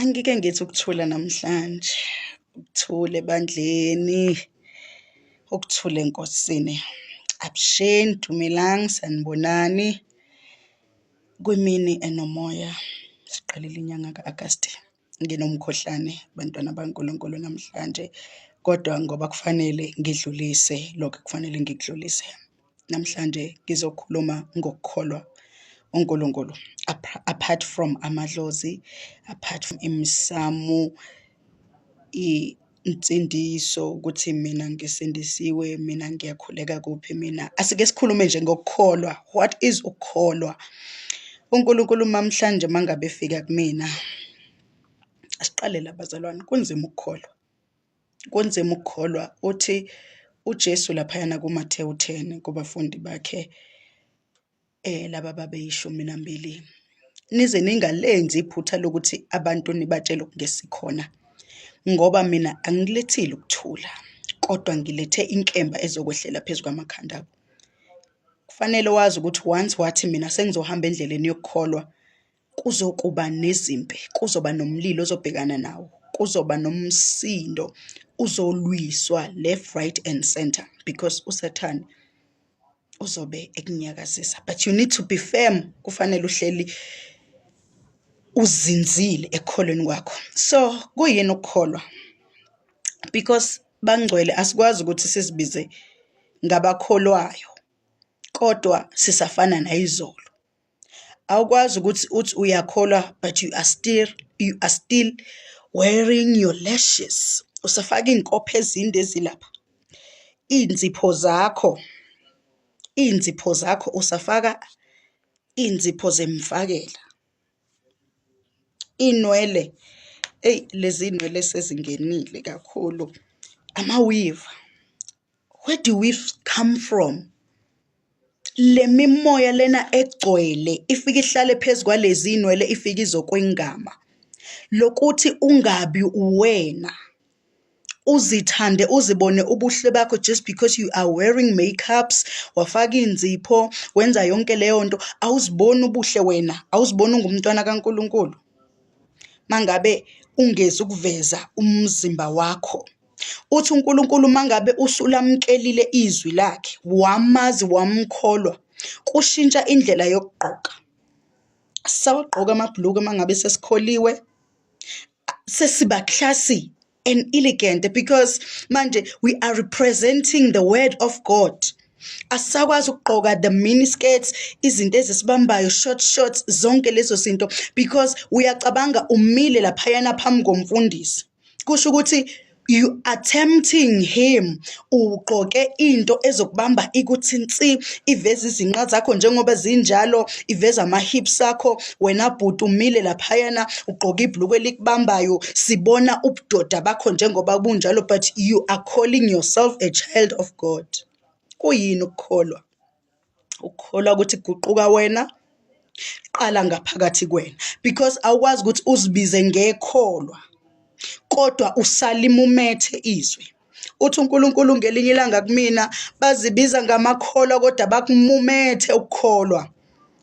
Angike ngithi ukuthula namhlanje, ukuthula ebandleni, ukuthula enkosini. Abusheni, dumelani, sanibonani kwimini enomoya. Siqalile inyanga ka-Agasti nginomkhuhlane bantwana baNkulunkulu namhlanje, kodwa ngoba kufanele ngidlulise lokho ekufanele ngikudlulise. Namhlanje ngizokhuluma ngokukholwa uNkulunkulu apart from amadlozi, apart from imisamu, insindiso ukuthi mina ngisindisiwe, mina ngiyakhuleka kuphi mina. Asike sikhulume nje ngokukholwa. What is ukukholwa? UNkulunkulu mamhlanje mangabe efika kumina, asiqale la bazalwane, kunzima ukukholwa. kunzima ukukholwa uthi uJesu laphayana kuMathewu 10 kubafundi bakhe eh laba babeyishumi nambili nize ningalenzi iphutha lokuthi abantu nibatshele okungesikhona ngoba mina angilethile ukuthula kodwa ngilethe inkemba ezokwehlela phezu kwamakhanda abo kufanele wazi ukuthi once wathi mina sengizohamba endleleni yokukholwa kuzokuba nezimpi kuzoba nomlilo ozobhekana nawo kuzoba nomsindo uzolwiswa left right and center because usathane uzobe ekunyakazisa but you need to be firm kufanele uhleli uzinzile ekukholweni kwakho so kuyini ukukholwa because bangcwele asikwazi ukuthi sizibize ngabakholwayo kodwa sisafana nayizolo awukwazi ukuthi uthi uyakholwa but you are still you are still wearing your lashes usafaka iy'nkopho ezinde ezilapha iy'nzipho zakho iy'nzipho zakho usafaka iy'nzipho zemfakela inwele eyi lezi nywele sezingenile kakhulu amawiva where do we come from le mimoya lena egcwele ifike ihlale phezu kwalezi inwele ifike izokwengama lokuthi ungabi uwena uzithande uzibone ubuhle bakho just because you are wearing makeups wafaka inzipho wenza yonke leyo nto awuziboni ubuhle wena awuziboni ungumntwana kaNkuluNkulu mangabe ungezi ukuveza umzimba wakho Uthi uNkulunkulu uma ngabe usulamkelile izwi lakhe wamazi wamkholwa kushintsha indlela yokugqoka sawagqoka amabhuluku uma ngabe sesikholiwe sesiba classy and elegant because manje we are representing the word of God asisakwazi ukugqoka the mini skirts izinto ezisibambayo short shorts zonke lezo zinto because uyacabanga umile laphayana phambi komfundisi kusho ukuthi you are tempting him ugqoke into ezokubamba ikuthi nsi iveza izinqa zakho njengoba zinjalo iveza ama-hips akho wena bhuti umile laphayana ugqoke ibhluku elikubambayo sibona ubudoda bakho njengoba bunjalo but you are calling yourself a child of god kuyini ukukholwa ukukholwa ukuthi kuguquka wena qala ngaphakathi kwena because awukwazi ukuthi uzibize ngekholwa kodwa usalimumethe izwi uthi uNkulunkulu ngelinye ilanga kumina bazibiza ngamakholwa kodwa bakumumethe ukukholwa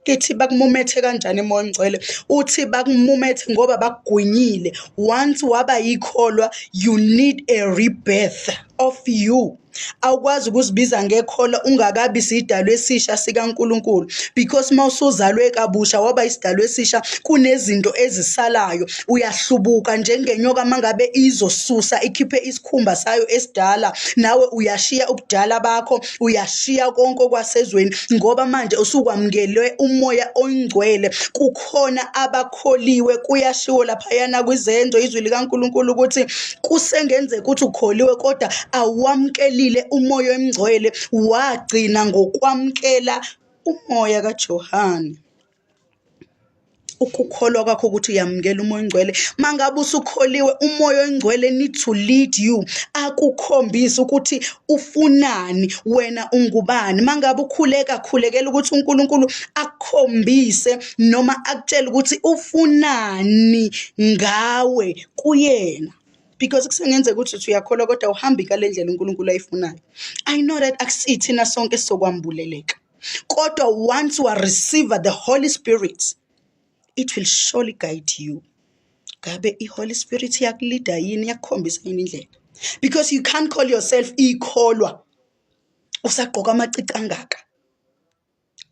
kithi bakumumethe kanjani emoya ongcwele uthi bakumumethe ngoba bakugwinyile once waba yikholwa you need a rebirth of you awukwazi ukuzibiza ngekhola ungakabi sidalwa esisha sikaNkulunkulu because uma usuzalwe kabusha waba isidalwa esisha kunezinto ezisalayo uyahlubuka njengenyoka mangabe izosusa ikhiphe isikhumba sayo esidala nawe uyashiya ubudala bakho uyashiya konke okwasezweni ngoba manje usukwamukelwe umoya oyingcwele kukhona abakho kholiwe kuyashiwo laphayana kwizenzo izwi likaNkulunkulu ukuthi kusengenzeka ukuthi ukholiwe kodwa awamkelile umoya emngcwele wagcina ngokwamkela umoya kaJohane ukukholwa kwakho ukuthi uyamukela umoya ongcwele mangabe usukholiwe umoya ongcwele need to lead you akukhombise ukuthi ufunani wena ungubani mangabe ukhuleka khulekela ukuthi uNkulunkulu akukhombise noma akutshele ukuthi ufunani ngawe kuyena because kusengenzeka ukuthi uthi uyakholwa kodwa uhambi kale ndlela uNkulunkulu ayifunayo i know that akusithina sonke sokwambuleleka kodwa once wa receive the holy spirit it will surely guide you ngabe i holy spirit yakulida yini yakukhombisa yini indlela because you can't call yourself ikholwa usagqoka amacici angaka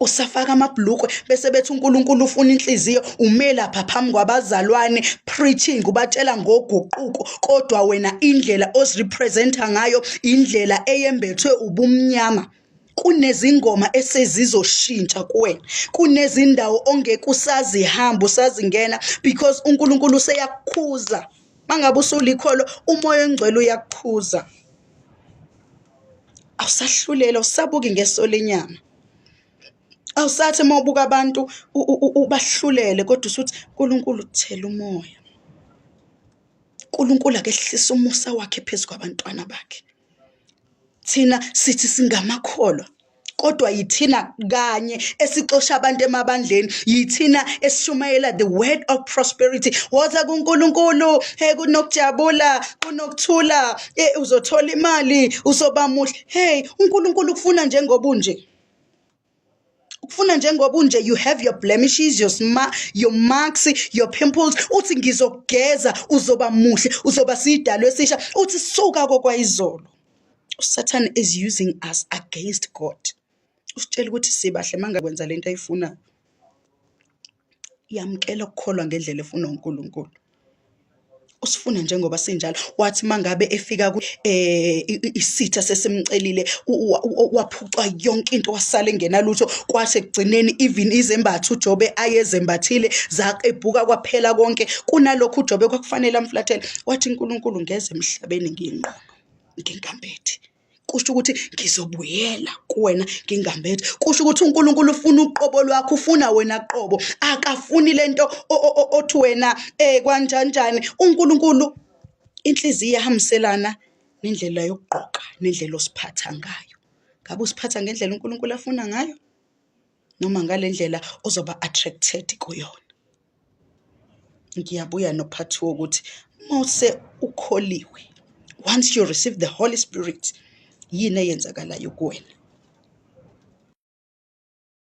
usafaka amabhlukwe bese bethi uNkulunkulu ufuna inhliziyo ume lapha phambi kwabazalwane preaching ubatshela ngoguquko kodwa wena indlela ozirepresenta ngayo indlela eyembethwe ubumnyama kunezingoma esezizoshintsha kuwena kunezindawo ongeke usazihamba usazingena because uNkulunkulu useyakukhuza mangabe usulikholo umoya ongcwele uyakukhuza awusahluleli awusabuki ngeso lenyama awusathi uma ubuka abantu ubahlulele kodwa usuthi uNkulunkulu thela umoya uNkulunkulu akehlisa umusa wakhe phezu kwabantwana bakhe thina sithi singamakholwa kodwa yithina kanye esixosha abantu emabandleni yithina esishumayela the word of prosperity woza kuNkulunkulu hey kunokujabula kunokuthula hey uzothola imali uzoba muhle hey uNkulunkulu kufuna njengoba unje ukufuna njengoba unje you have your blemishes your sma your marks your pimples uthi ngizokugeza uzoba muhle uzoba sidalo esisha uthi suka kokwayizolo usathane is using us against God usitshela ukuthi sibahle uma ngakwenza le nto ayifunayo yamukela ukukholwa ngendlela efunwa uNkulunkulu usifuna njengoba sinjalo wathi mangabe efika ku eh isitha sesimcelile waphucwa yonke into wasale ngenalutho kwase kugcineni even izembatha uJobe ayezembathile zaqebhuka kwaphela konke kunalokho uJobe kwakufanele amflathele wathi uNkulunkulu ngeze emhlabeni ngiyinqoba ngingambethi kusho ukuthi ngizobuyela kuwena ngingambethi kusho ukuthi uNkulunkulu ufuna uqobo lwakho ufuna wena qobo akafuni lento othi wena eh kwanjanjani uNkulunkulu inhliziyo iyahambiselana nendlela yokugqoka nendlela osiphatha ngayo ngabe usiphatha ngendlela uNkulunkulu afuna ngayo noma ngale ndlela ozoba attracted kuyona ngiyabuya nophathi wokuthi mose ukholiwe once you receive the holy spirit yini eyenzakalayo kuwena